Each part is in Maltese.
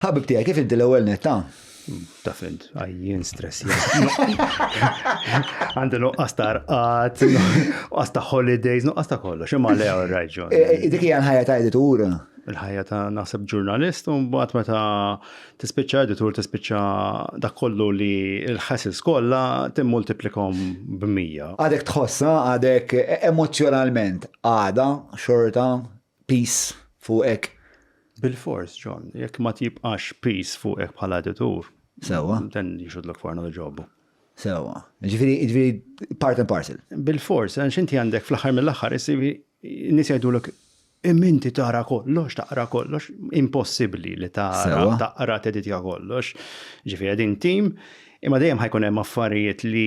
Ħabib tiegħi kif inti l-ewwel net ta'? Ta' fint, għajjien stress. Għandi nuqqas ta' rqat, nuqqas ta' holidays, nuqqas ta' kollox, imma le għal raġun. Eh, eh, dik hija l-ħajja ta' editur. Il-ħajja ta' naħseb ġurnalist, u mbagħad meta tispiċċa editur tispiċċa dak kollu li l-ħasis kollha timmultiplikom b'mija. Għadek tħossha, għadek emozjonalment għada xorta piż fuqek. Bilfors, John, jekk ma tibqax piż fuqek bħala editur. Sewwa. Then you should look for another job. Sewwa. Jiġifieri, jiġifieri part and parcel. Bilfors, għax inti għandek fl-aħħar mill-aħħar issivi nies jgħidulek Imma inti tara kollox, taqra kollox, impossibbli li tara, taqra teditja kollox. Ġifieri din tim Imma dejjem ħajkun hemm affarijiet li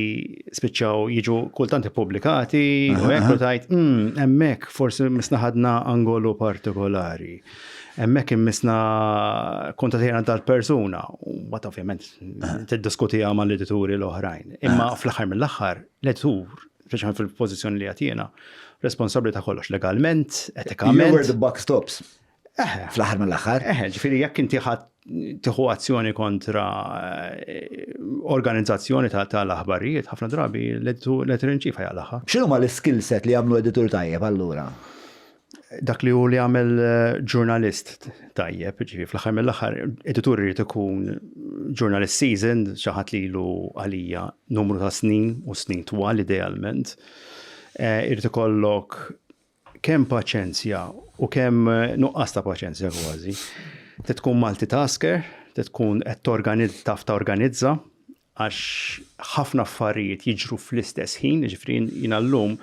spiċċaw jiġu kultant ippubblikati u hekk u tajt, hmm, hemmhekk forsi misna ħadna angolu partikolari. Hemmhekk immisna kontatjena tal-persuna, u bat ovvjament tiddiskutija mal edituri l-oħrajn. Imma fl-aħħar mill-aħħar, l-editur, speċjalment fil-pożizzjoni li għatjena, responsabbli ta' kollox legalment, etikament. Where the buck stops. Fl-aħħar mill-aħħar. Eħe, ġifieri jekk inti ħadd tieħu azzjoni kontra eh, organizzazzjoni tal-aħbarijiet, ħafna drabi l-editur inċifa jgħalaħħa. X'inhu ma l-skill set li jagħmlu editur tajjeb allura? Dak li hu li għamel eh, ġurnalist tajjeb, ġifi fl-aħħar mill-aħħar, editur irid ikun ġurnalist seasoned, xi ħadd li lu għalija numru ta' snin u snin twal idealment. Eh, irid ikollok Kemm paċenzja u kemm nuqqas ta' paċenzja kważi. Trid tkun multitasker, trid tkun qed torganizza, taf torganizza, għax ħafna affarijiet jiġru fl-istess ħin, ġifri jina l-lum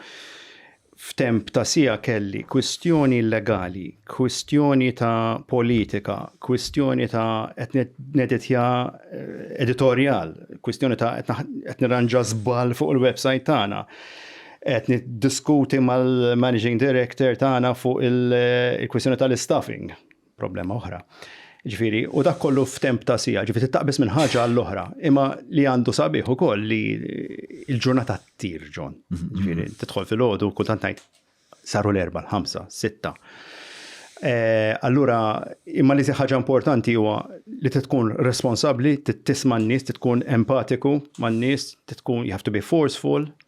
f'temp ta' sija kelli kwistjoni legali, kwistjoni ta' politika, kwistjoni ta' qed neditja eh, editorjal, kwistjoni ta' qed nirranġa żball fuq il-website tagħna. qed niddiskuti mal-Managing Director tagħna fuq il-kwistjoni tal-istaffing, problema oħra. Ġifieri, u dak kollu f'temp ta' sija, ġifieri taqbis minn ħaġa għall-oħra, imma li għandu sabiħ ukoll li l-ġurnata ttir ġon. Mhm. Ġifieri, tidħol fil-ħodu kultant ngħid saru l-erba, l-ħamsa, sitta. Eh, allura, imma li ħaġa importanti huwa li tkun responsabbli, tisma' n-nies, tkun empatiku man-nies, tkun you have to be forceful,